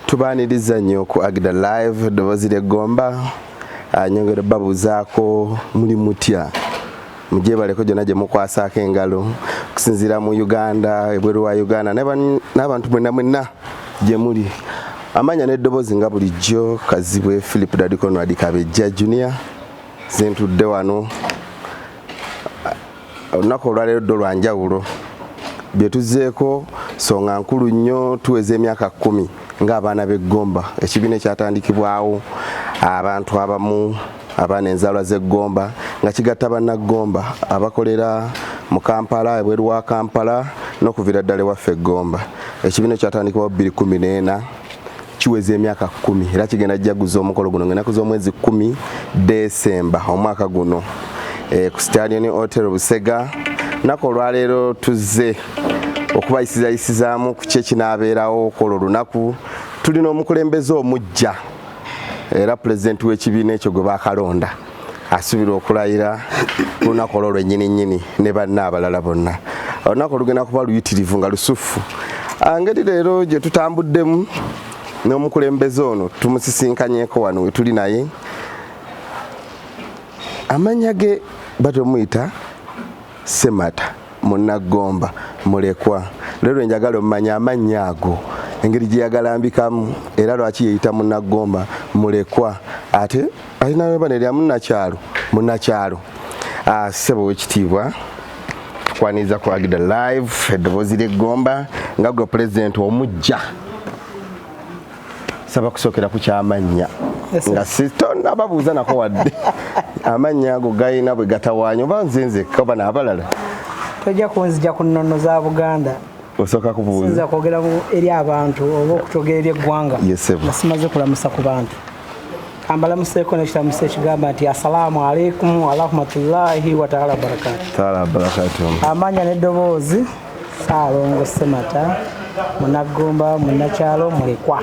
tubaniriza nnyo ku agida live eddoboozi ly'eggomba ah, nyongere babuuzaako muli mutya mugyebaleko gyonna gye mukwasaako engalo okusinziira mu uganda ebweru wa uganda n'abantu mwenna mwenna gye muli amanya n'eddoboozi nga bulijjo kazibwe philip dadikonwadikabejja junior zentudde wano Olunaku olwaleero ddo lwa njawulo bye tuzzeeko songa nkulu nnyo tuweza emyaka kkumi ng'abaana b'eggomba ekibiina ekyatandikibwawo abantu abamu abaana enzaalwa z'eggomba nga kigatta bannaggomba abakolera mu kampala ebweru wa kampala n'okuviira ddala ewaffe eggomba ekibiina ekyatandikibwawo 214 kiweza emyaka kumi era kigenda jaguza omukolo guno ngenaku z'omwezi kumi desemba omwaka guno e, ku stadion hotel busega naku olwaleero tuzze okubayisizayisizaamu ku kyekinaabeerawo okwolwo olunaku tulina omukulembeze omujja era pulezidenti w'ekibiina ekyo gwe bakalonda asubirwa okulayira lunaku olwo lwennyini nnyini ne banna abalala bonna olunaku olugenda kuba luyitirivu nga lusuffu angeri ah, leero gye tutambuddemu n'omukulembeze ono tumusisinkanyeko wano we tuli naye amannya ge batomuyita semata munaggomba mulekwa leero enjagala omumanya amannya ago engeri gye yagalambikamu era lwaki yeyita munaggomba mulekwa ate Alina webane lya munnakyalo munnakyalo ah, ssebo wekitiibwa tukwaniriza ku agida live eddoboozi ly'eggomba nga gwe pulezidenti omujja saba kusookera ku kyamannya nga sitonababuuza nako wadde amannya ago galina bwe gatawaanya oba nze nzekka oba n'abalala tojja kunzija ku nnono za buganda osooka kubuuza kwogera eri abantu oba okutogera eri eggwanga nga simaze kulamusa ku bantu kambalamuseeko nekiramusa ekigamba nti assalaamu alaikum warahmatullahi wataala wabarakatu amanya neddoboozi saalongo semata munaggumba munakyalo mulekwa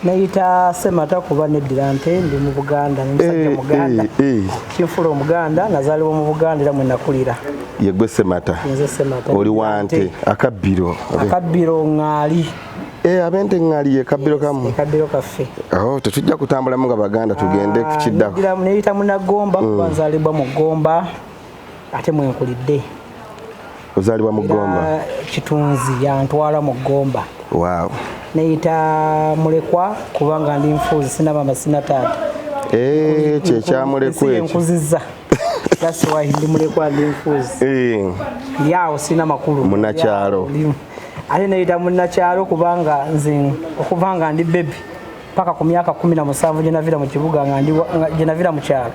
neyita semata kuba neddira nte ndi mu buganda nomusajja eh, muganda eh, eh. kinfula omuganda nazalibwa mu buganda era mwenakulira yegwe semata oli wante akabbiro akabbiro ŋaali Eh, abente ŋŋali ye kabbiro kamu kabbiro kaffe oh, tetujja kutambulamu nga baganda tugende ku ah, kiddako neyita munagomba kuba mm. nzaalibwa mu gomba ate mwenkulidde ozaalibwa mu gomba kitunzi yantwala mu gomba waaw neyita mulekwa kubanga ndi nfuuzi sinabama sinataata eh, kyekyamulekwa enkuziza that's why ndi mulekwa ndi nfuuzi eh. yaawo sina makulu munakyalo ate neyita munnakyalo kubanga nze okuva nga ndi bebi paka ku myaka kumi na musanvu gyenavira mu kibuga gyenavira mu kyalo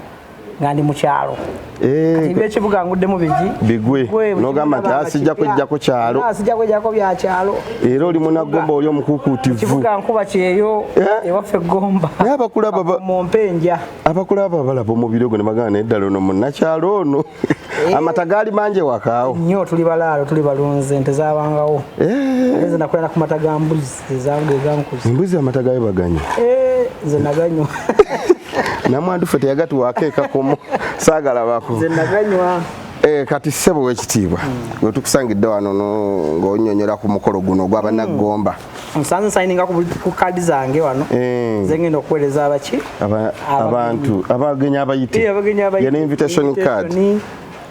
nga ndi mu kyalo eh, ekibuga nguddemu bigi bigwe nogamba nti asijja ah, kwejjako kyalo asijja ah, kwejjako bya kyalo era oli munagomba oli omukukuutivu kibuga nkuba kyeyo eh? ewaffe gomba naye abakulaba mu mpenja abakulaba balaba omubiri ogwo ne bagana naye ddala ono munnakyalo ono Eh. amata gaali mangi ewakaawo nyo tuli balaalo tuli balunzi ente zabangawo eh. nze nakolera ku mata ga mbuzi ezange egankuza embuzi amata gayo baganywa eh, nze naganywa namwandu fe teyagatuwaako ekakomo saagalabako nze naganywa Eh, kati ssebo wekitiibwa mm. wetukusangidde wano ng'onyonyola ku mukolo guno ogwabanaggomba mm. musanze sayininga ku kaadi zange wano eh. zengenda okuweereza abaki abantu abagenyi abayitiyena invitation card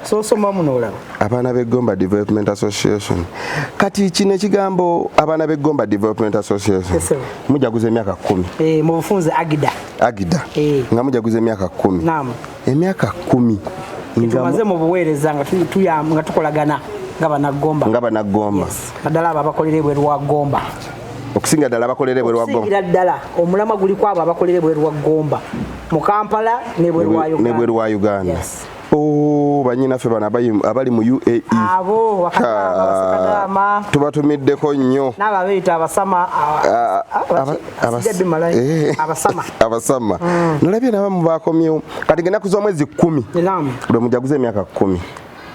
sosoma muno olaba abaana b'eggomba development association kati kino ekigambo abaana b'eggomba development association mujaguza emyaka kumi eh, mu bufunze agida agida eh. nga mujaguza emyaka kumi emyaka kumi tumaze mu buweereza nga tukolagana nga banaggomba nga banaggomba naddala abo abakolera ebweru wa ggomba okusinga ddala abakolera ebweru wa ggomba ddala omulamwa guli ku abo abakolera ebweru wa ggomba mu kampala nebweru wa uganda oh, banyinaffe bano abali mu uae tubatumiddeko nnyo ah, ah, Eh. abasama abasama mm. nolabye nabamu bakomyewo kati genda kuza omwezi kumi lwe mujaguza emyaka kumi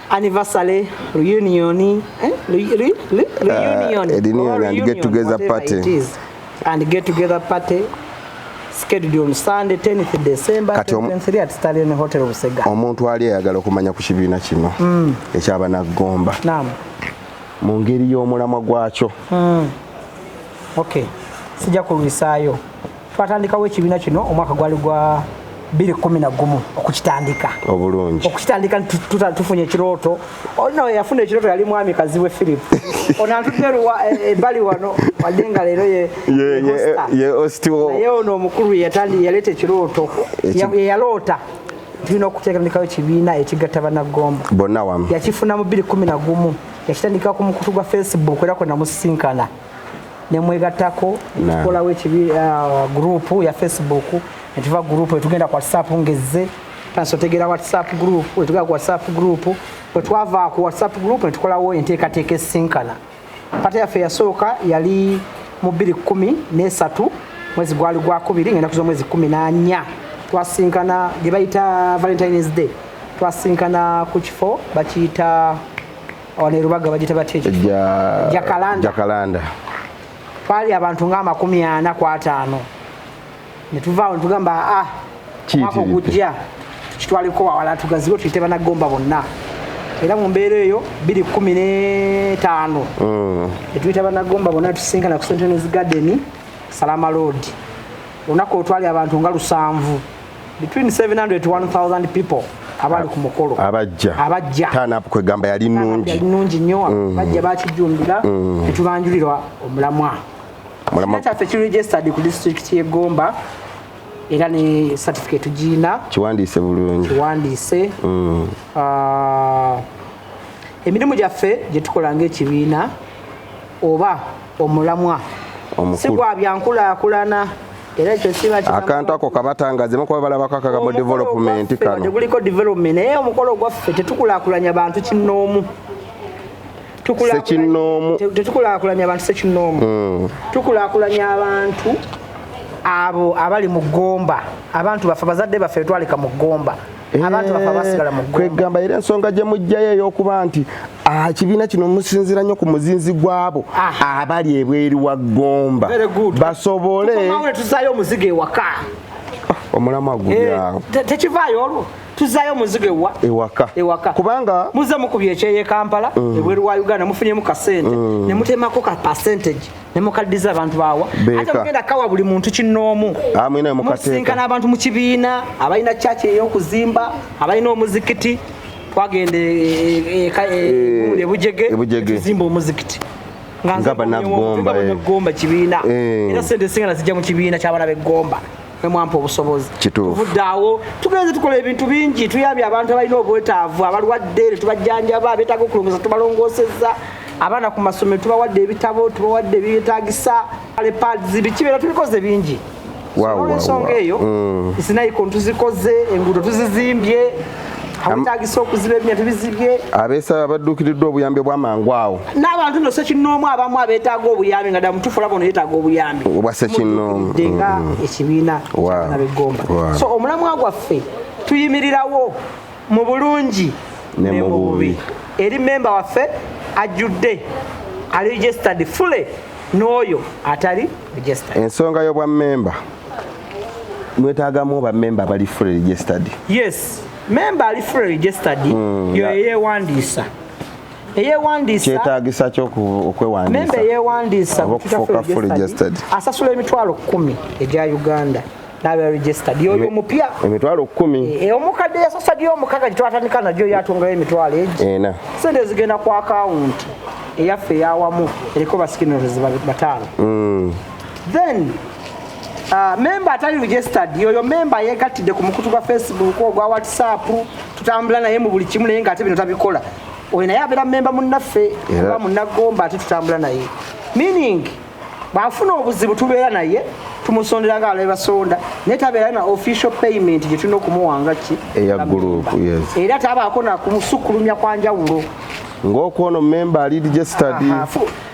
anniversary reunion eh? reunion uh, and get together party and get together party scheduled on Sunday 10th December 2023 at Stallion Hotel Busega. Omuntu ali ayagala okumanya ku kibiina kino mm. ekyaba na gomba. Naam. Mu ngeri y'omulamwa gwakyo. Mm. okay sijja kulwisaayo twatandikawo ekibiina kino omwaka gwali gwa biri kumi na gumu okukitandika obulungi okukitandika tufunye ekirooto olina yafuna ekirooto yali mwami kazi we philip onantudde eh, ebbali wano wadde nga leero ye ostio naye ono omukulu yatandi yaleeta ekirooto yeyaloota tulina okuteekandikawo ekibiina ekigatta banaggomba bonna wamu yakifuna mu biri kumi na gumu yakitandika ku mukutu gwa facebook era kwenamusisinkana nemwegattako tukolawo ekibi uh, gurupu ya facebook netuva gurupu etugenda ku whatsapp ngezze tansi otegeera whatsapp group wetugenda ku whatsapp group wetwava ku whatsapp group netukolawo enteekateeka esinkana pata yaffe yasooka yali mu bbiri kumi nesatu mwezi gwali gwakubiri ngenda kuza omwezi kumi nanya twasinkana gyebayita valentines day twasinkana ku kifo bakiyita wano erubaga bagita batya ekifo jakalanda twali abantu nga amakumi ana ku ataano ne tuvaawo ne tugamba a ah, mwaka ogujja tukitwaliko wawala tugazibe tuyite banagomba bonna era mu mbeera eyo biri kumi n'etaano mm. ne tuyita banagomba bonna tusisinkana ku sentenes garden salama road olunaku olutwali abantu nga lusanvu between 700 to 1000 people abali ku mukolo abajja abajja tana apo kwegamba yali nungi yali nungi nyo mm. bajja bakijumbira mm. etubanjulirwa omulamwa mulamwa kyaffe ki registered ku district ye Gomba era ne certificate gina kiwandiise bulungi kiwandiise mm. uh, emirimu gyaffe gye tukola ng'ekibiina oba omulamwa si gwa byankulaakulana era ekyo kiba akantu ako kabatangaze mukuba balabako akagambo development kano teguliko development naye omukolo gwaffe tetukulakulanya bantu kinnoomu sekinnoomu tetukulakulanya abantu sekinnoomu hmm. tukulakulanya abantu abo abali mu ggomba abantu baffe bazadde baffe betwalika mu ggomba abantu bafa basigala mu ggomba kwegamba era ensonga gye mujjayo ey'okuba nti Ah, ekibiina kino musinzira nnyo ku muzinzi gwabo ah. abali ebweru wa gomba basobole tuzayo omuzigo ewaka oh, omulamu agulyawo eh, tekivaayo olwo tuzayo omuzigo ewa ewaka ewaka kubanga muze mukubye ekyeye kampala mm. ebweru wa uganda mufunyemu kasente mm. ne mutemako ka percentage ne mukaddiza abantu bawa ate mugenda kawa buli muntu kinnoomu ah, musinkana abantu mu kibiina abalina kyaki ey'okuzimba abalina omuzikiti twagenda ebujege tuzimba omuzikiti nga banagomba eh. kibiina eh. era sente singa nazijja mu kibiina kyabana begomba mwemwampa obusobozi tuvuddaawo tugenze tukola ebintu bingi tuyambye abantu abalina obwetaavu abalwadde netubajjanjaba abetaaga okulongosa tubalongoseza abaana ku masomero tubawadde ebitabo tubawadde ebyetagisa lepads bikibeera tubikoze bingi olwensonga eyo mm. sinaiko ntuzikoze enguudo tuzizimbye awetagisa okuziba ebinya tubizibye abeesaba abadduukiriddwa obuyambi obwamangu awo n'abantu no sekinnoomu abamu abeetaaga obuyambi nga damutufu laba ono yeetaaga obuyambi obwa sekinnoomu nga mm. ekibiina kyabana begomba so omulamwa gwaffe tuyimirirawo mu bulungi ne mu bubi eri memba waffe ajjudde ali registered fully n'oyo atali registered ensonga y'obwa memba mwetagamu ba memba bali fully registered yes memba ali fully registered mm, yo yeyewandiisa kyetagisa kyokwewandiisa asasula emitwalo kumi egya uganda nabe registered yoyo mupya emitwalo 10 e, eh, eh, omukadde yasosa gyo omukaga gitwatandika nagyo yatungayo emitwalo egi ena sente zigenda ku account eyaffe yawamu eriko basikiners bataano mm. then uh, memba atali registered yoyo memba yegattidde ku mukutu gwa facebook ogwa whatsapp tutambula naye mu buli kimu naye nga ate bino tabikola oyo naye abeera memba munnaffe oba munnagomba ate tutambula naye meaning bwafuna obuzibu tubeera naye tumusondera nga alabe basonda naye tabeera na official payment gye tulina okumuwanga ki eya gurupu era tabaako nakumusukkulumya kwa njawulo ng'okwono memba ali registered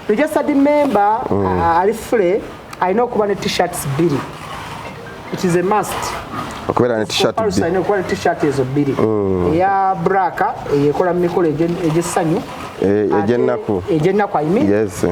registered memba mm. uh, ali fule alina okuba ne t-shirts bbiri it is a must okubeera ne t-shirt alina okuba ne t-shirt ezo bbiri mm. eya braka eyekola mu mikolo egy'essanyu eh, egy'ennaku egy'ennaku ayimi yes eh.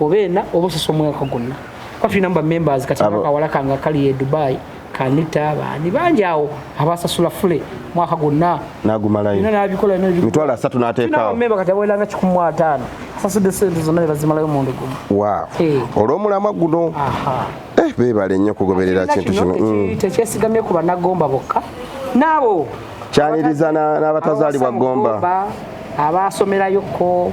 oba ena oba osesa omwaka gwonna kuba tulina mu bamembers kati akawala kange akali e dubai kanita baani bangi awo abasasula fule mwaka gwonna nagumalayomitwalo asatu nateekawomemba kati abaweranga kikumi mu ataano asasudde sente zonna nebazimalayo omundi gumu olwomulamwa guno eh, bebale nnyo kugoberera kintu kino mm. tekyesigamye ku banagomba bokka naabo kyaniriza n'abatazaalibwa gomba abaasomerayo ko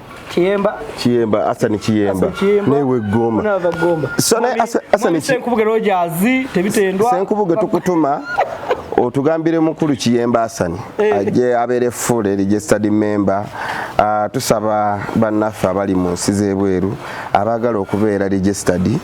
Kiyemba Kiyemba Asani Kiyemba newe Gomba Unava Gomba Sana Asani Senkubuge Rogers tebitendwa Senkubuge tukutuma otugambire mukulu Kiyemba Asani eh. aje abere full registered member ah, tusaba bannaffe abali mu nsi z'ebweru abagala okubeera registered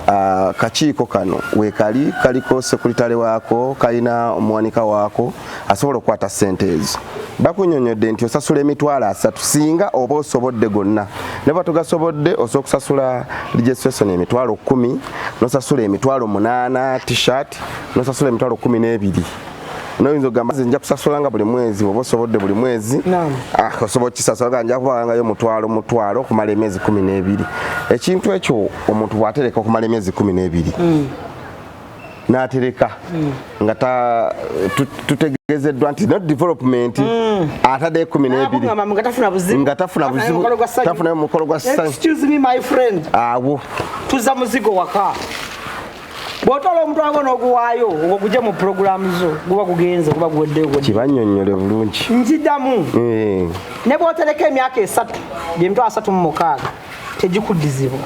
akakiiko kano weekali kaliko sekuritale waako kalina omuwanika waako asobola okukwata ssente ezo bakunyonyodde nti osasula emitwalo asatu singa oba osobodde gonna neba tugasobodde osobola okusasula registration emitwalo kumi nosasula emitwalo munaana tshirt nosasula emitwalo kumi n'ebiri noyinza okugamba nze nja kusasula nga buli mwezi oba osobodde buli mwezi ah, osobola okukisasula nga nja kubaangayo mutwalo mutwalo okumala emyezi kumi n'ebiri ekintu ekyo omuntu bwatereka okumala emyezi kumi n'ebiri mm. n'atereka mm. nga tutegezeddwa nti not development mm. atadde ekumi n'ebiri nga tafuna buzibu tafunayo mukolo gwa sanyu awo tuza muzigo waka bw'otoola omutwalo gwo n'oguwaayo ogwo guje mu pulogulaamu zo guba gugenze guba guweddeyo kibannyonnyole bulungi nkidamu eh. ne bw'otereka emyaka esatu gyemitwalo asatu mu mukaaga tegikuddizibwa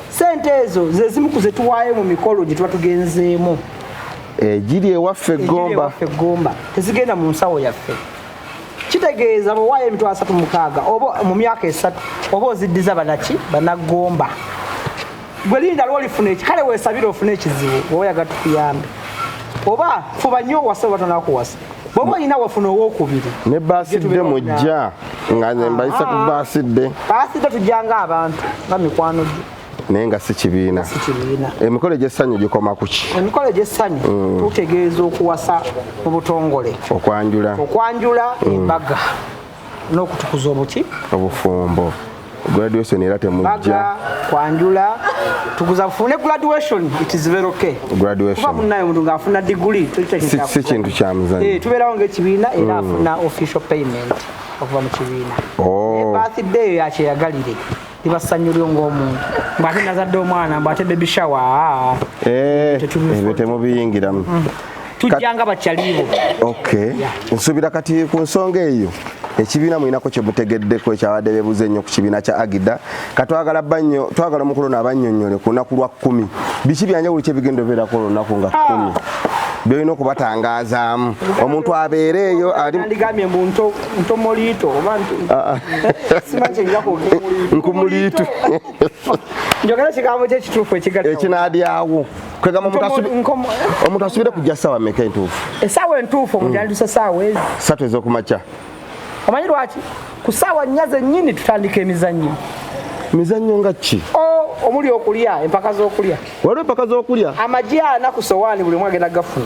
sente ezo ze zimu ku zetuwaayo mu mikolo gye tuba tugenzeemu egiri eh, ewaffe eggomba tezigenda mu nsawo yaffe kitegeeza bwewaayo emitwalo asatu mukaaga oba mu myaka esatu oba oziddiza banaki banaggomba gwe linda lwolifuna eki kale wesabira ofuna ekizibu woba oyaga tukuyambe oba fuba nyo owase oba tonakuwasa bwoba olina wafuna owokubiri ne basidde mujja nga nembayisa ku basidde basidde tujjanga abantu nga mikwano gyo naye nga si kibiina emikolo egyessanyu gikoma ku ki emikolo egyessanyu mm. tutegeeza okuwasa mu butongole okwanjula okwanjula mm. embaga n'okutukuza obuki obufumbo graduation era temujja kwanjula tukuza fune graduation it is very okay graduation kuba munaye omuntu ng'afuna diguli si kintu kya muzanyo eh, tubeerawo ng'ekibiina era mm. afuna official payment okuva mu kibiina oh. birthday yakyeyagalire liba ssanyu lyo ng'omuntu mbu ate nazadde omwana mbu ate baby shower ah. eh, ebyo temubiyingiramu mm. tujjanga bakyaliibo okay nsuubira kati ku nsonga eyo ekibiina mulinako kyemutegeddeko ekyabadde bebuza ennyo ku kibiina kya agida katwagala banyo twagala omukulu ono abanyonyole ku lunaku lwa kkumi biki byanjawulo kyebigenda obeerako olunaku nga kkumi ah. byolina okubatangazaamu omuntu abeereeyo ali ntomoliito oba ah, ah. sima kyenja kwogenkumuliitu njogera ekigambo kyo ekituufu ekigadekinaadyawo kwegamba omuntu asubire kujja saawa meka entuufu esaawa entuufu omuntu yandisa hmm. saawa ezi satu ezokumakya omanyi lwaki ku saawa nnya zennyini tutandika emizannyo mizannyo nga ki omuli okulya empaka z'okulya waliwo empaka z'okulya amagi ana ku sowaani buli omu agenda gafuna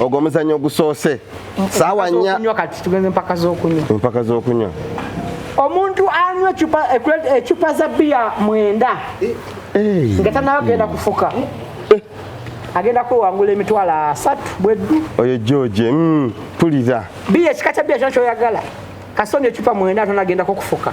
ogwo omuzannyo ogusoose saawa nnya empaka z'okunywa omuntu anywa ecupa eh, eh, za biya mwenda eh. nga tanaba genda kufuka agenda kwewangula emitwalo asatu bweddu oyo george mm, pulira biya ekika kya biya kyona kyoyagala kasonda ecupa mwenda atonagendako kufuka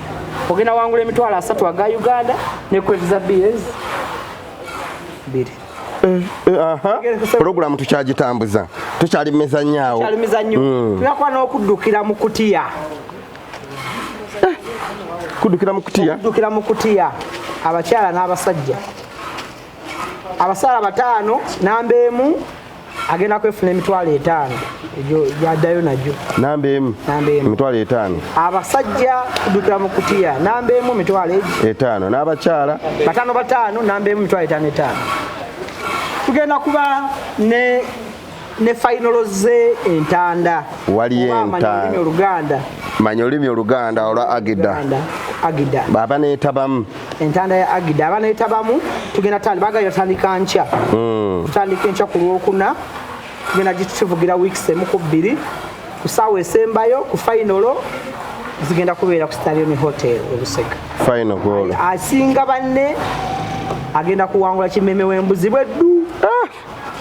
ogenda wangula emitwalo asatu aga uganda ne kwezi za bs biri Eh, eh, pulogulamu tukyagitambuza tukyali mumizanyaawo mm. tuyakuba n'okuddukira mu kutiya eh, kuddukira mu kutiya kuddukira mu kutiya abakyala n'abasajja abasaala bataano namba emu agenda kwefuna emitwalo etaano yadayo najo namba emu emitwalo etaano abasajja kudukira mu kutiya namba emu emitwalo egi etaano n'abakyala bataano bataano namba emu emitwalo etaano etaano tugenda kuba ne ne fayinolo ze entanda waliyo entanda oluganda manya olulimi oluganda olwa agida agida baba neetabamu entanda ya agida abanetabamu tugenda tandika bagala yatandika nkya hmm. tutandika enkya ku lwokuna tugenda gituvugira weeks emu ku bbiri ku saawa esembayo ku fainolo zigenda kubeera ku starioni hotel ebusega asinga banne agenda kuwangula kimeme wembuzi bweddu ah!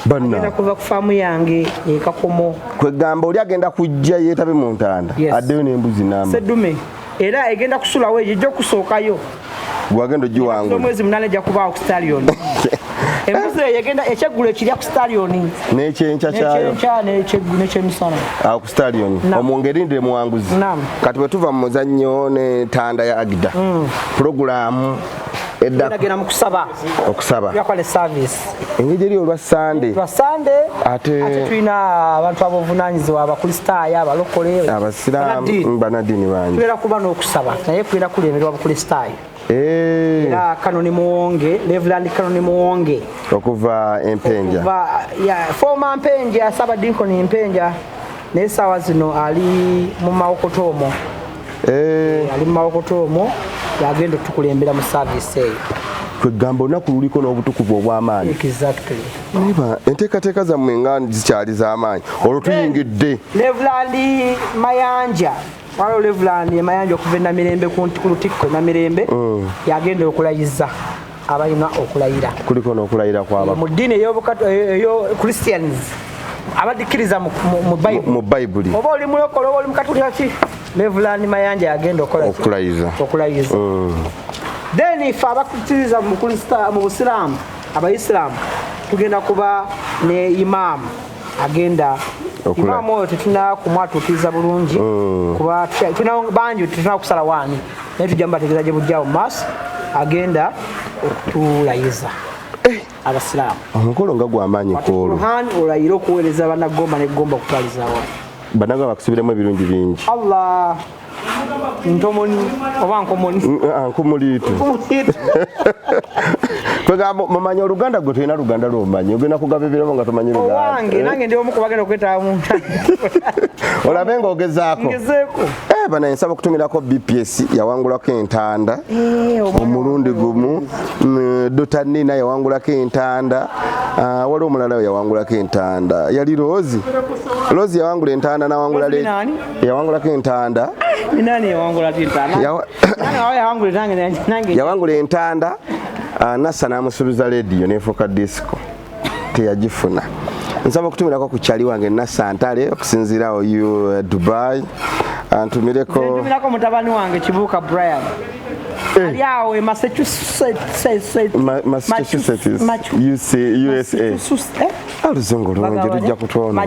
banna kuva ku faamu yange ekakomo kwegamba oli agenda kujja yeetabe mu ntanda addeyo n'embuzi nama sedume era egenda kusulawo eyo ejja okusookayo gwagenda ogiwangula omwezi munana ejja kubaawo ku stallion embuzi eyo egenda ekyeggulo ekirya ku stallion n'ekyenkya kyayo n'ekyemisana awo ah, ku stallion omungerindire muwanguzi kati bwe tuva mu muzannyo n'entanda ya agida mm. pulogulaamu eddaogenda mu kusaba okusaba yakola esaviisi engeri eri olwa sande lwa sande ate ate tulina abantu abovunanyizibwa abakristaayo abalokole abasiraamu banadini bangi tubeera kuba n'okusaba naye kubeera kulemerwa bukristaayo eh. era kanoni muwonge reverand kanoni muwonge okuva empenja foma mpenja saba dinkoni mpenja naye saawa zino ali mu mawokotoomo eh. eh, ali mu mawokota omwo yagenda otukulembera mu saavisi eyo kwegamba olunaku luliko n'obutukuvu obw'amaanyi eba enteekateeka zammwe nga zikyali z'amaanyi olwo tuyingidde levulandi mayanja waliwo levulandi emayanja okuva enamirembe ku lutikko enamirembe mm. yagenda okulayiza abalina okulayira kuliko n'okulayira kwaba mu ddiini eyo christians abadikkiriza mu bayibuli oba oli mulokole oba oli mukatulika ki levulani mayanja yagenda okolaokulayiza okulayiza mm. then ife abakkiriza mu busiraamu abaisiraamu tugenda kuba ne imaamu agenda imaamu oyo tetunakumwatuukiriza bulungi mm. kuba bangi tetuna kusala waani naye tujja mubategeeza gye bujjawo mu maaso agenda okutulayiza eh. abasiraamu omukolo nga gwamaanyi kwolwo olayire okuweereza banagomba negomba okutwalizawa banaga bakusubiremu ebirungi bingi allah ntomoni oba nkomoni mm, ah, nkumuliitu kwegamba mumanya oluganda gwe tulina luganda lwomanyi ogenda kugaba ebirabo nga tomanyi lugandawange eh? nange ndi omu kubagenda okwetaba muntu olabe nga ogezaako ngezeeko eh, banaye nsaba okutumirako bps yawangulako entanda eh, omulundi gumu mm, dota nina yawangulako entanda ah, waliwo omulala yawangulako entanda yali loozi loozi yawangula entanda nawangula yawangulako entanda yawangula entanda ah, nassa n'amusubiza lediyo nefuuka disco teyagifuna nsaba okutumirako ku kyali wange nassa ntale okusinziirawo uh, dubai antumireko mutabani wange kibuuka brian eh. ali awo e massachusetts aluzungu eh? lungi lujja kutwonoona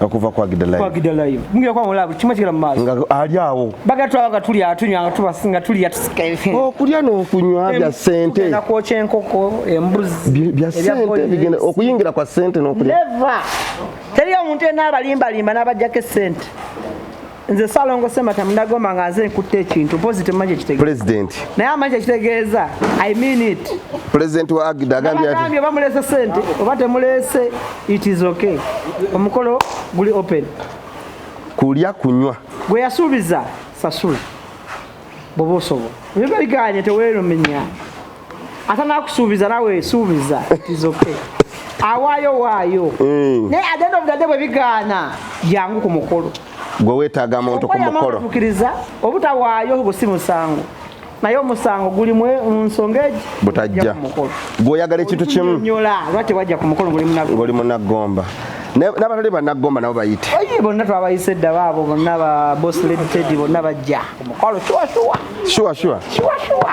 okuva kwa gida live kwa gida live mungi kwa mulabu kimwe kigala maso nga ali awo baga twa baga tuli atunywa nga tuba singa tuli ya tusikaye o oh, kulya no kunywa bya sente na ko chenkoko embuzi bya sente bigenda okuyingira kwa sente no kulya never teri ya muntu ena abalimba limba na bajja ke sente nze salongo semata mundagomba nga nze nkutte ekintu mpozi temumanyi ekitegeeza president naye amanyi ekitegeeza i mean it president wa agda agambye ati agambye bamulese sente oba temulese it is okay omukolo guli open kulya kunywa gwe yasuubiza sasula bwoba osobola biba biganye tewerumenya ate nakusuubiza nawe suubiza tizoke awaayo waayo mm. naye agenda obudadde bwe bigaana jangu ku mukolo gwe wetaaga muntu ku mukolo tukiriza obutawaayo obo si musango naye omusango guli mu nsonga egi butajja gwe oyagala ekintu kimu nyola lwaki wajja ku mukolo ngoli munagomba n'abatali bannagomba nabo bayite oye bonna twabayise dda baabo bonna ba boss lady teddy bonna bajja omukwalo shuwashuwa shuwashuwa shuwashuwa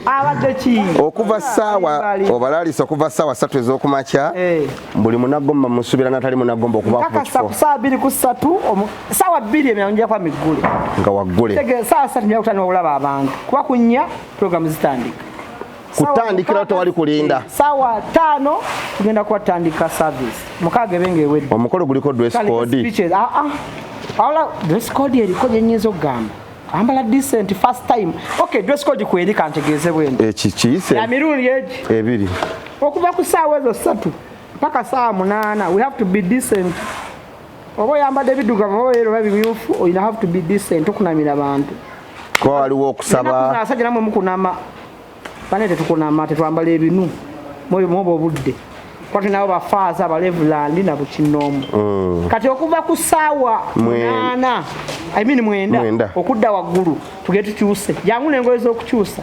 abadde ki okuva saawa obalalisa okuva saawa satu ez'okumakya eh. buli munagomba musubira natali munagomba okubakakasaawa biri ku satu saawa bbiri emirano njakwa miggule nga waggule saawa satu njakutandika okulaba abantu kuba kunya programu zitandika kutandikira tewali kulinda sawa tano tugenda kuwatandika service mukaaga ebe ngaewedde omukolo guliko dress code ah, ah. awala dress code eriko gyenyinza okugamba ambala decent first time okay dress code kweri kantegeeze bwendi ekikiyise eh, emirundi egi ebiri okuva ku saawa ezo ssatu mpaka saawa munaana we have to be decent oba oyambadde biddugavu oba yero oba bimyufu oyina have to be decent okunamira abantu kuba waliwo okusaba asajja namwe mukunama bane tetukunama tetwambala ebinu mwoba obudde kwati nabo bafaaza abalevulandi na bukinoomu mm. kati okuva ku saawa munaana I mean mwenda okudda waggulu tugee tukyuse jangu nengoye z'okukyusa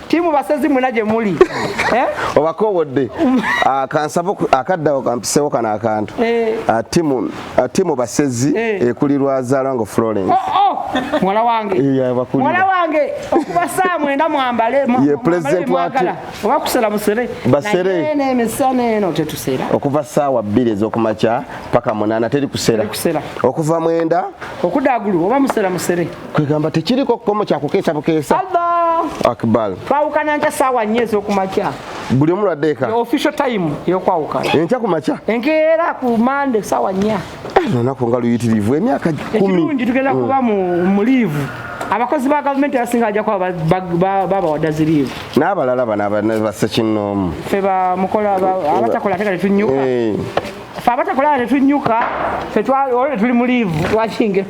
timu basezi muna gye muli eh? obakowodde ah, kansaba akaddawo kampisewo kano akantu eh. ah, timu ah, timu basezi eh. ekulirwa zalango florence oh, oh. mwala wange mwala wange okuba saa mwenda mwambale ye president wati oba kusera musere basere ne emisana eno tetusera okuva saawa bbiri ez'okumakya paka munana teri kusera okuva mwenda okudagulu oba musera musere kwegamba tekiriko kukomo kyakukeesa bukeesa akbar twawukana nkya saawa nnya ezokumakya buli omu lwadde eka official time yokwawukana enkya kumakya enkeera ku mande saawa nnya eh, lunaku nga luyitirivu emyaka ekirungi tugenda mm. kuba mu liivu abakozi ba gavumenti abasinga bajja kuba babawada ziriivu n'abalala bano basekinnoomu fe bamukola abatakola ate kati tunyuka eh. fe abatakola tetunyuka fetwali tuli mu liivu twakinga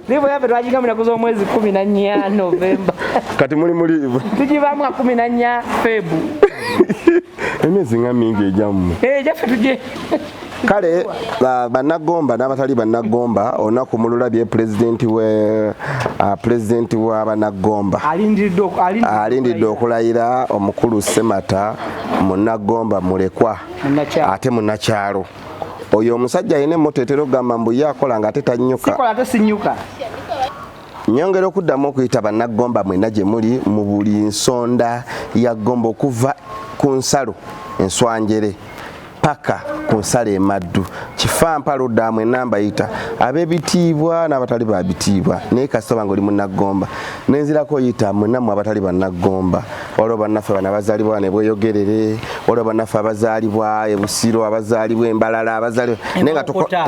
liivu yafe twakinga munaku z'omwezi kumi na nnya novemba kati muli mu liivu tugibamu a kumi na nnya febu emyezi nga mingi egyammwe eh, gyaffe tugye kale banagomba n'abatali banagomba olunaku mululabye pulezidenti pulezidenti wa banagomba alindiridde okulayira omukulu semata munagomba mulekwa ate munakyalo oyo omusajja alina emmoto etera okugamba mbu ye akola nga ate tanyuka nyongera okuddamu okuyita bannagomba mwena gye muli mu buli nsonda ya gomba okuva ku nsalo enswanjere paka ku nsalo emaddu kifampa ludda mwena mbayita ab'ebitiibwa n'abatali ba bitiibwa naye kasitoba nga oli munnagomba nenzirako oyita mwenamu abatali bannagomba waliwo bannaffe bana bazalibwa nebweyogerere waliwo bannaffe abazalibwa ebusiro abazalibwa embalala abazalibwa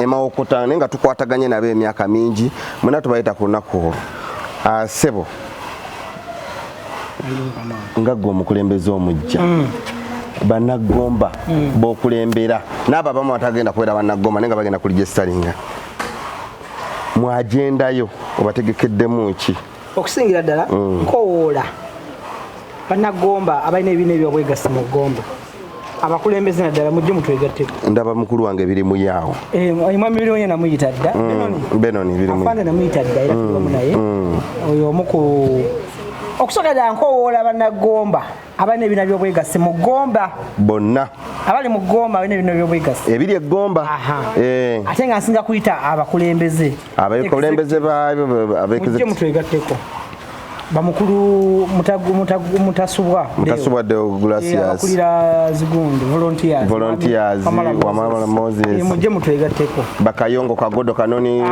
emawokota naye nga tukwataganye nabo emyaka mingi mwena tubayita ku lunaku olwo ah, sebo nga gwe omukulembeze omujja mm. banagomba mm. bokulembera naabo abamu batagenda kubeera banagomba naye nga bagenda kulijesitalinga mwagendayo obategekeddemu ki okusingira ddala mm. nkowoola banagomba abalina ebibiina ebyobwegassi mu gomba abakulembeze naddala mujje mutwegatteko ndaba mukulu wange biri muyaawo eh, mwami biri muye namuyita dda mm, benoni afande namuyita dda era tuliwamu mm, naye oyo omu ku okusooka dda nkowoola banagomba abalina ebina byobwegassi mu gomba bonna abali mu gomba balina ebina byobwegassi ebiri egomba eh. ate nga nsinga kuyita abakulembeze abakulembeze babekmuje mutwegatteko bamukulu mutasubwa mutasubwa de glacias akulira zigundu volunteers volunteers wamala moses e, muje mutwegatteko bakayongo kagodo kanoni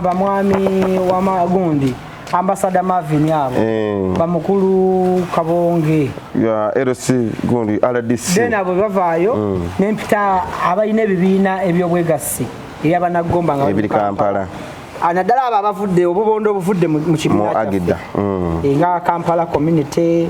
bamwami wamagundi ambasada Marvin abo eh. bamukulu kabonge ya LC gundi RDC then abo bavayo mm. nempita abayina ebibiina ebyobwegassi eyabanagomba nga ebiri Kampala anadala ah, aba abavudde obubondo obuvudde mu kibiina agida mm. Eh, nga Kampala community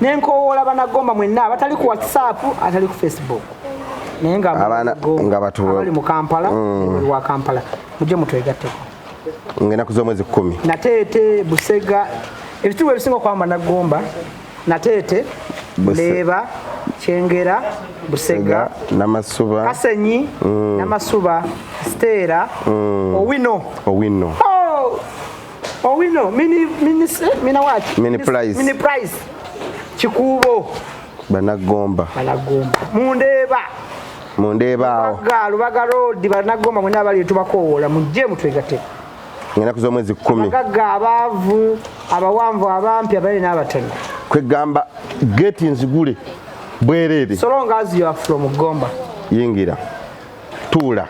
ne nkowoola banagomba mwenna abatali ku whatsapp atali ku facebook naye ngabali mu kampala mm. wa kampala mujje mutwegatteko ngaenaku z'omwezi kumi nateete busega ebitubu ebisinga okwamba nagomba nateete leeba kyengera busega namasuba kasenyi mm. namasuba siteera mm. owino owino oh! Owino mini mini mini what? Mini price. Mini price. Kikubo. Banagomba. Banagomba. Mundeba. Mundeba awo. Galu bagaro di banagomba mwenye abali tubakowola mujje mutwegate. Ngena kuzo mwezi 10. Bagaga abavu abawanvu abampi abali nabatana. Kwegamba gate nzigule. Bwerere. So long as you are from Gomba. Yingira. tuula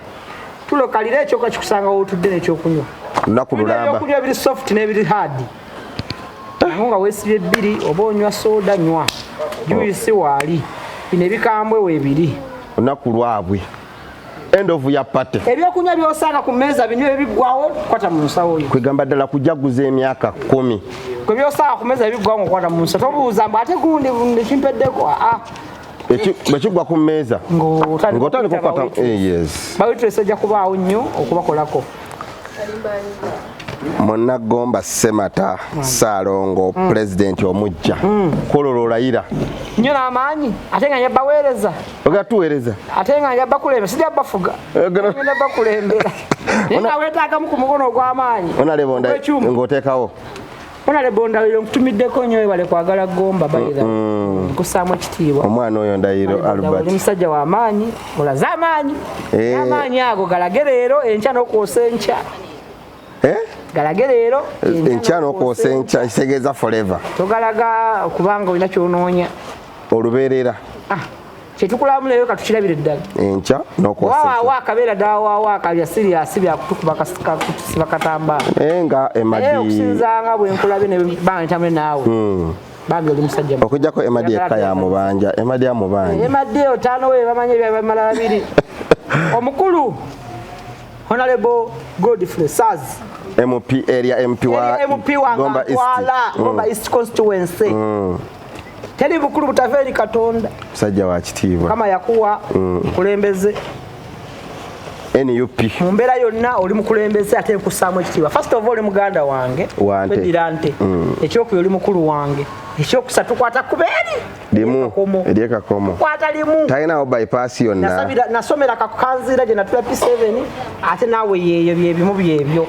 tulo kalira ekyoka kikusanga wotudde nekyokunywa lunaku lulamba okulya biri soft n'ebiri hard aho nga wesibye bbiri oba onywa soda nywa juisi oh. waali bino ebikambwe webiri lunaku lwabwe end of your party ebyokunywa byosanga ku mmeeza bino ebiggwawo kwata mu nsawo yo kwegamba ddala kujaguza emyaka kumi kwe byosanga ku mmeeza ebiggwawo ngaokwata mu nsa tobuuza mbu ate gundi ekimpeddeko aa ah, ah. bwekigwa ku mmeeza ng'otandika okukwata eh, bawitulesi ojja kubaawo nnyo okubakolako munaggomba semata saalongo mm. pulezidenti omujja mm. kwolwo lwolayira nyo namaanyi ate nga njabba weereza oga tuweereza ate nga njabba kulembera sija bafuga njabba eh, kulembera naye nga weetaagamu ku mukono ogw'amaanyi onaleba ngaoteekawo Onale Bondawiro nkutumiddeko nnyo webale kwagala gomba bayira nkusaamu ekitiibwa omwana oyo ndayiro Albert musajja wa maanyi olaze amaanyi eh. amaanyi ago galage leero enkya n'okwosa enkya eh? galage leero eh, enkya n'okwosa enkya kitegeeza forever togalaga kubanga olina kyonoonya olubeerera ah. kyetukulamu leero katukirabire ddala enkya nokwawaawo akabeera dawaawo akalya siriyasi byakutukuba kutusiba katambala naye nga emadi okusinzanga bwenkulabye nebantamule naawe hmm. bambi oli musajja okujjako emadi ekka yamubanja emadi amubanja emadi eyo taano we bamanya ebyabamala babiri omukulu honorable godfrey sars mp area mp wa mp wa gomba east hmm. constituency hmm. teri bukulu butava eri katonda musajja wa kitiibwa kama yakuwa mm. mukulembeze nup mu mbeera yonna oli mukulembeze ate nkussaamu ekitiibwa first of all oli muganda wange weddira nte mm. ekyokuyo oli mukulu wange ekyokusa tukwata kubeeri limu eryekakomo kwata limu talinawo bypass yonna nasomera kakukanziira gye natula p7 ate naawe yeeyo byebimu byebyo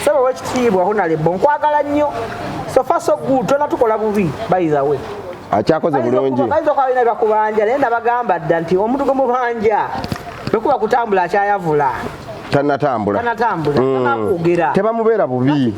saba wekitiibwa honalebo nkwagala nnyo sofa so good tona tukola bubi bayizawe akyakoze bulungi bayinza okuba balina bakubanja naye nabagamba dda nti omuntu gwe mubanja bwekuba kutambula akyayavula tanatambula mm. tebamubeera bubi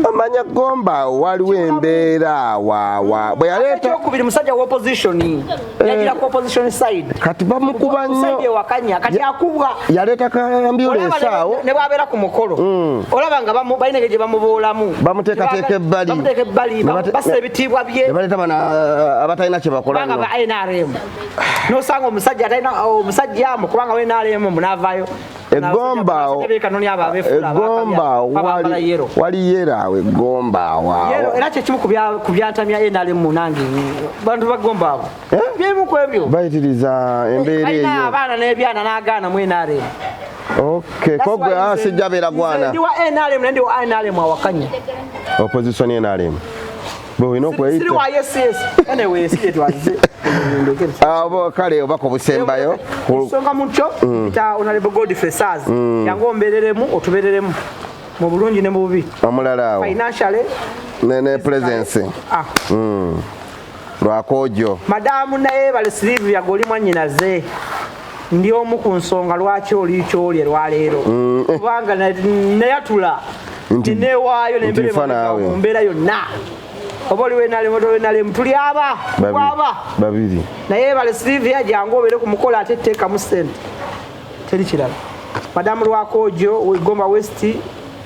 omanya gomba waliwo embeera wawa bweyaleetaokubiri musajja wa opposition Eh, yajira ku opposition side kati bamukuba nnyo side ewakanya kati akubwa yaleeta ka ambulance awo ne bwabeera ku mukolo mm. olaba nga bamu balina gye bamuboolamu bamuteekateeka ebbali bamuteeka ebbali bassa ebitiibwa bye ne baleeta bana uh, abatalina kye bakola nga ba NRM n'osanga omusajja atalina omusajja amu kubanga wa NRM munaavaayo egombaawo egombaawo waliyo era awo egombaawo awo era kyekimu ku byantamya nrm munange bantu bagombaawo eh? bimu ku ebyo bayitiriza embeera eyo abaana n'ebyana n'agaana mu nrm Okay, kogwe ah sijabera gwana. Ndi wa NRM ndi wa NRM awakanya. Opposition NRM. abo kale obako obusembayo kusonga mutyo mm. ta onalebo god fesaz mm. yangu ombereremu otubereremu mu bulungi ne mu bubi omulala awo financially ne ne presence ah mm. lwakojo madamu naye bale sleeve yagoli mwanyinaze ndi omu ku nsonga lwaki oli kyoli lwaleero mm. kubanga nayatula newaayo nembeera yonna oba oli wenalemotowenalemu tuli aba kwaba babiri naye bale silivia jangu obeere ku mukola ate teekamu sente teri kirala madamu lwakojo wegomba westi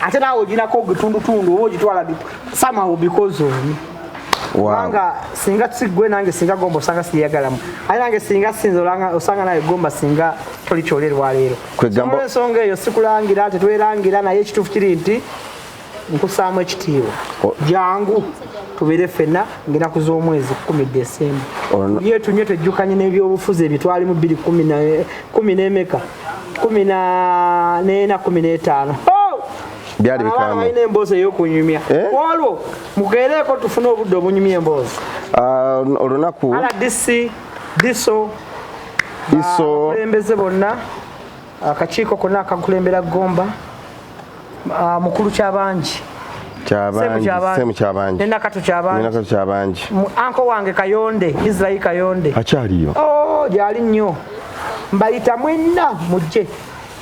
ate naawe oginako ogitundutundu oba ogitwala samawo bikozi omu kubanga singa sigwe nange singa gomba osanga siyagalamu aye nange singa sinza olanga osanga naye gomba singa toli kyolerwa leero kwegamba ensonga eyo sikulangira tetwerangira naye ekituufu kiri nti nkusaamu ekitiibwa jangu tubeere ffenna ngaenaku z'omwezi kumi desemba yetunye twejjukanye n'ebyobufuzi ebitwalimu bbiri kumi n'emeka kumi na nena kumi n'etaano oh! byali bikamu balina emboozi ey'okunyumya eh? olwo mugeereeko tufune obudde obunyumya emboozi ah, olunaku rdc diso abakulembeze bonna akakiiko konna akakulembera gomba Ah, mukulu kyabangi nenakatu kyabangi anko wange kayonde israel kayonde akyaliyo oh, gyali nnyo mbayita mwenna mujje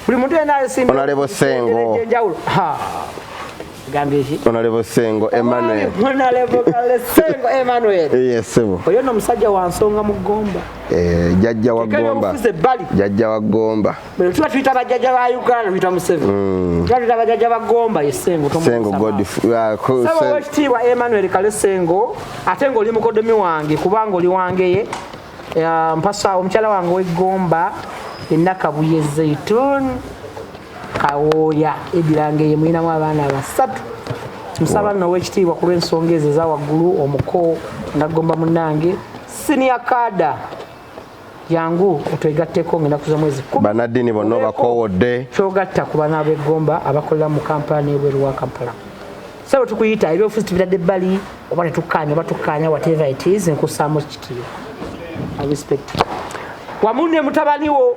buli muntu enalesimnalebo sengo onalebo sengo emmanuel oyo no musajja wansonga mu gomba eh, jajja wa gomba jajja wa gomba Bwe tuba tuyita bajjajja ba Uganda tuyita Museveni. Mm. Tuba tuyita bajjajja ba Gomba ye Ssengo tomusa. Ssengo Godfrey. Ah, Sabo wekitiibwa Emmanuel Kale Ssengo ate ng'oli mukodomi wange kubanga oli wangeye mpasa omukyala wange w'eggomba ennakabuye Zaitun Kawooya edirangeye mulinamu abaana basatu nsaba nno owekitiibwa ku lw'ensonga ezo eza waggulu omuko naggomba munnange siniya kaada yangu otwegatteko ngenaku zomwezi banaddiini bonna obakoowodde kyogatta ku bana b'eggomba abakolera mu kampala n'ebweru wa kampala sabo tukuyita ebyobufuzi tubitadde ebbali oba tetukkaanya oba tukkaanya whatever it is nkussaamu kitiibwa respect wamu ne mutabaniwo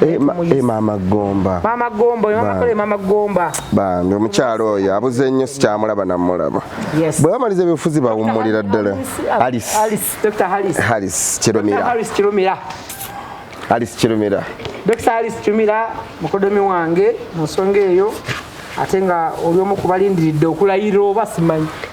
Eh, eh, maama gomba maama gomba oyo maama kole maama gomba bambi omukyalo oyo abuze nnyo sikyamulaba namulaba bwe bamaliza ebyobufuzi bawummulira ddala haris kirumira haris kirumira dokita haris kirumira mukodomi wange mu nsonga eyo ate nga oli omu kubalindiridde okulayirira oba simanyi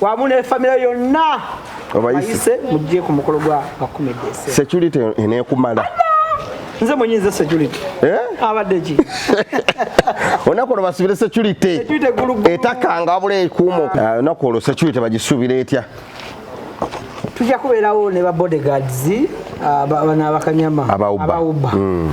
wamu ne famire yonna obayise mujje ku mukolo gwa bakumedese security enekumala nze mwenye nze security eh? abadde ki olunaku olwo basubire security etakanga wabula ekuumo ah, olunaku olwo security bagisuubira etya tujja kubeerawo ne ba bodyguards ah, bana bakanyama abauba mm.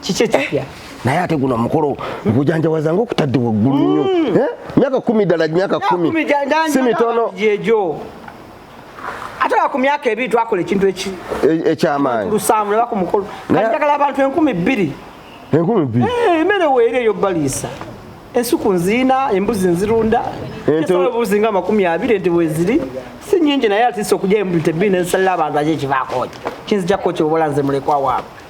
kiki ekipya naye ate guno omukolo gujanjawaza nga okutadde waggulu nnyo mm. eh? myaka kumi ddala myaka kumi si mitono ate nga ku myaka ebiri twakola ekintu e- ekyamaanyi lusaamu neba ku mukolo kati njagala abantu enkumi bbiri enkumi bbiri eh, emere weeri eyo baliisa ensuku nziina embuzi nzirunda ebuzi nga amakumi abiri nti weziri si nyingi naye atisa okuja embuzi tebbiri nensalira abantu ajo ekivaakooki kinzija kooki obola nze mulekwa waabwe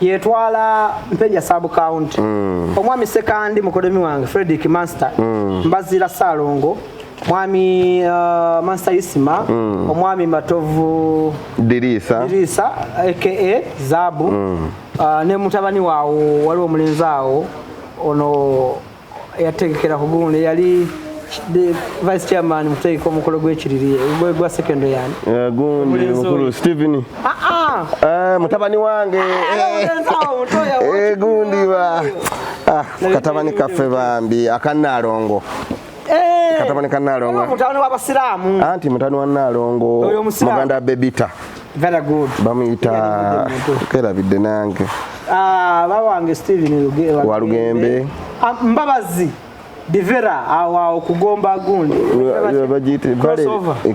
yetwala mpenja sub county mm. omwami sekandi mukodemi wange frederick master mm. mbazira salongo mwami uh, master isima mm. omwami matovu dirisa dirisa aka zabu mm. uh, ne mutabani wawo waliwo omulenzi awo ono eyategekera ku gundi yali vice chairman mutegeka omukolo gwekiriri gwa sekondo yani eh, gundi mukulu steven ah, ah. Eh, mutabani wange ah, eh, gundi ba katabani kaffe bambi akanaalongo katabani kanaalongo anti mutani wa naalongo muganda bebita very good bamuyita kerabidde nange ah, baba wange steven walugembe ah, mbabazi divera awo awo kugomba gundi bagiyita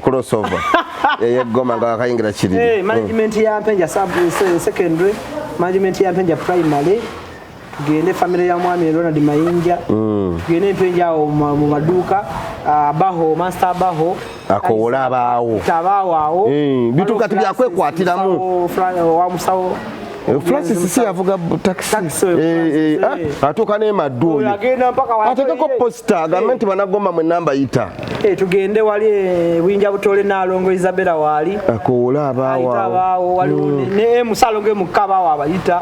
crossover eyegoma nga wakayingira kiri eh, management ya mpenja secondary management ya mpenja primary tugende famire ya mwami ronald mayinja mm. tugende empenja awo mu maduuka ah, baho master baho akowola abaawo abaawo awo eh, bituuka tibyakwekwatiramo wamusawo Eh, Francis si yavuga taxi eh, eh, ah, atuuka n'emaddu oyo ateekeko posita agambe nti banagomba mu enamba yita tugende wali buyinja butole naalongo isabela waali akowole abaawawo nemusaalongo emukka abaawo abayita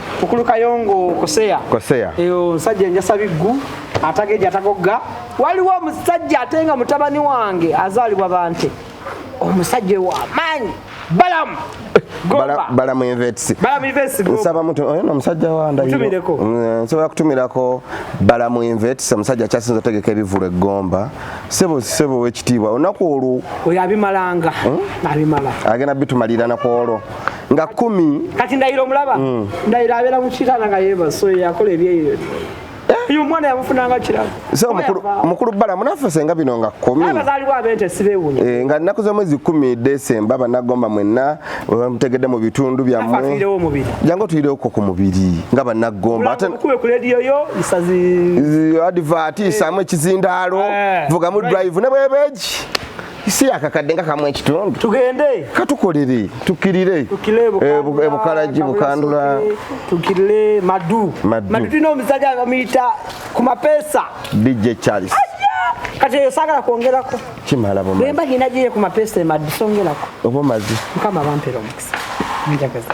Mukulu Kayongo Koseya. Koseya. Eyo nsajja njasa biggu atageja atagogga. Waliwo omusajja atenga mutabani wange azalibwa bante. Omusajja wa maanyi. Balamu. Gomba. Balamu Invets. Balamu Invets. Nsaba mutu oyo no musajja wa ndayo. Mutumireko. Mm, nsobola kutumirako Balamu Invets omusajja kyasinza otegeka ebivulu eggomba. Sebo sebo wekitiibwa. Onaku olwo. Oyo abimalanga. Hmm? Abimala. Agenda bitumalira na kwolo. nga kumi kati ndayira omulaba mm. ndayira abeera mu kitanda nga yeebaso yakola ebyeyo eh? omwana yamufunanga kirabo mukulu bala munafuse nga bino nga eh, nga nnaku z'omwezi kumi desemba banagomba mwenna mutegedde mu bitundu byammwe jangu otuyireoko ku mubiri nga banagomba adivati eh. saamu ekizindaalo vugamu drive ne bwebeegi si akakadde nga kamu ekitundu tugende katukolere tukirire ebukalagi eh, eh, bukandula tukirire madu madu tulina omusajja bamuyita ku mapesa dj charles kati eyo sagala kwongerako kimala boma bwemba nyina gye ku mapesa emadi songerako oba omazi mukama bampera omukisa njagaza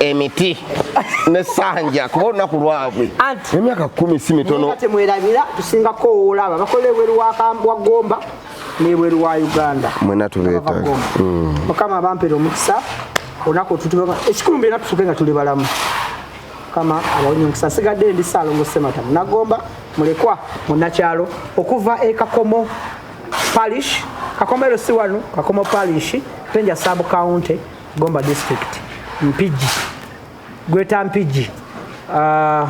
emiti ne sanja kuba olunaku lwabwe emyaka kumi si mitono temwerabira tusinga kowoola abo abakola ebweru wa gomba nebweru wa uganda mwena tubeeta mm. mukama abampere omukisa olunaku otutuba ekikulumba era tufuke nga tuli balamu mukama abawonye omukisa sigadde ndi saalongo semata munagomba mulekwa munakyalo okuva ekakomo parish kakomo ero si wano kakomo parish penja sub county Gomba district Mpigi gweta Mpigi uh,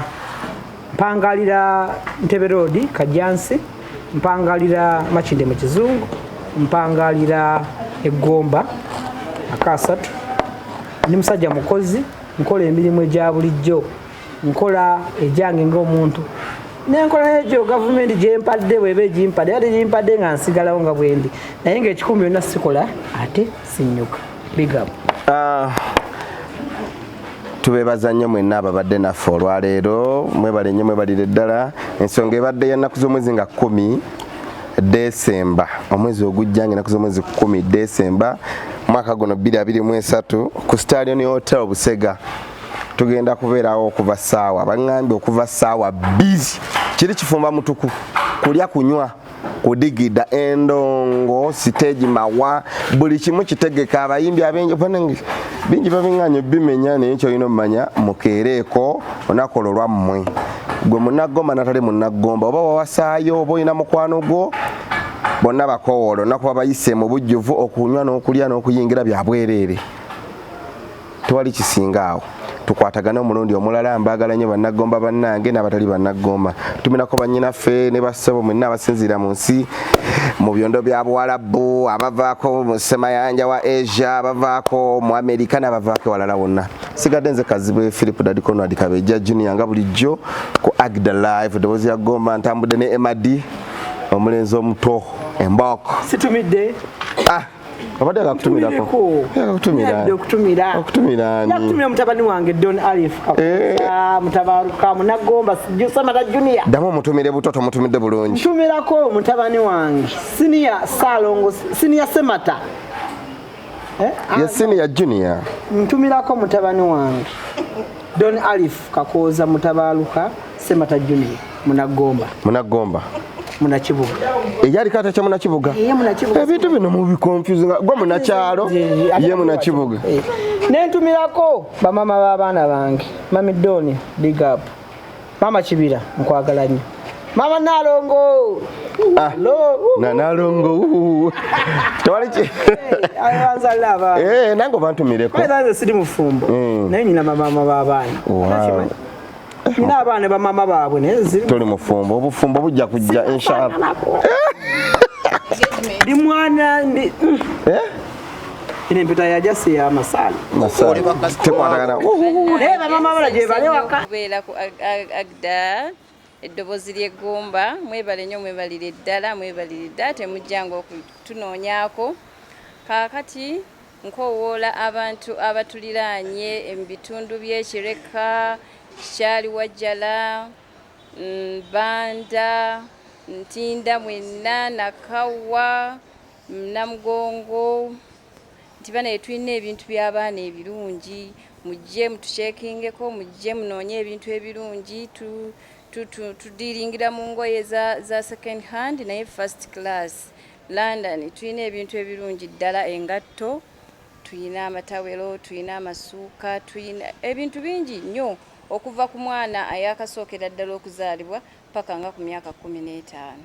mpangalira Ntebe Road Kajansi mpangalira Makinde mu Kizungu mpangalira Egomba akasatu ndi musajja mukozi nkola emirimu egya bulijjo nkola egyange ng'omuntu nenkola egyo gavumenti gyempadde bweba egimpadde ate gimpadde nga nsigalawo nga bwendi naye ngaekikumi byonna sikola ate sinyuka big up uh, tubebaza nnyo mwenna ababadde naffe olwaleero mwebale nnyo mwebalire ddala ensonga ebadde yennaku z'omwezi nga kumi desemba omwezi ogujja nga enaku z'omwezi kumi desemba mwaka guno 223 ku stalion hotel busega tugenda kubeerawo okuva saawa baŋambye okuva saawa bbiri kiri kifumba mutuku kulya kunywa kudigida endongo siteegi mawa buli kimu kitegeka abayimbi abengi bingi babinganya obimenya naye kyolina omumanya mukeereeko onakola olwammwe gwe munagomba natali munagomba oba wawasaayo oba olina mukwano gwo bonna bakowoola onakuba bayise mu bujjuvu okunywa n'okulya n'okuyingira byabwereere tewali kisinga awo tukwatagane omulundi omulala mbaagala nnyo bannaggomba bannange n'abatali bannaggomba tuminako bannyinaffe ne bassebo mwenna abasinziira mu nsi mu byondo bya buwalabu abavaako mu semayanja wa asia abavaako mu amerika n'abavaako ewalala wonna sigadde nze kazibwe philip dadikonwadi kabejja junior nga bulijjo ku agda live eddoboozi ya gomba ntambudde ne emadi omulenzi omuto embok situmidde ah. abadde akakutumirako akakutumiraokutumiraokutumira mutabani wange don alif eh. ah, mutabaruka munagomba samata junior ddamu omutumire buto tomutumidde bulungi tumirako mutabani wange siniya salongo siniya semata eh? ah, ye siniya junior ntumirako mutabani wange don alif kakooza mutabaruka Semata Junior Munagomba. Munagomba. Munakibuga. Eyali kata cha Munakibuga. Yeye Munakibuga. Ebintu bino mu bi confuse nga gwa Munakyalo ye Munakibuga. Eh. Nentumirako bamama b'abaana bange. Mami Doni big up. Mama Kibira nkwagala nnyo. Mama Nalongo. Ah, na Nalongo. Tewali ki. Ayanza lava. Eh, nango bantu mireko. Kwa nze sidi mufumbo. Mm. Naye nyina mama baba bana. Wow. nina abaana bamama baabwe toli mufumbo obufumbo bujja kujja inshallah ndi mwana ndi mm. eh? ine mpita yajasi ya masala tekwatagana naye bamama bala gyebale waka kubeera ku agda eddobozi ly'eggumba mwebale nnyo mwebalire ddala mwebalire ddala temujjanga okutunoonyaako kaakati Nkowoola abantu abatuliraanye mu bitundu by'e Kireka, Kikyaliwajjala, Banda, Ntinda mwenna, Nakawa, Namugongo nti banaye tulina ebintu by'abaana ebirungi mujje mutukyekingeko mujje munoonye ebintu ebirungi tudiringira mu ngoye za second hand naye first class London tulina ebintu ebirungi ddala engatto tulina amatawero tulina amasuuka tulina ebintu bingi nnyo okuva ku mwana ayakasookera ddala okuzaalibwa paka nga ku myaka kkumi n'etaano.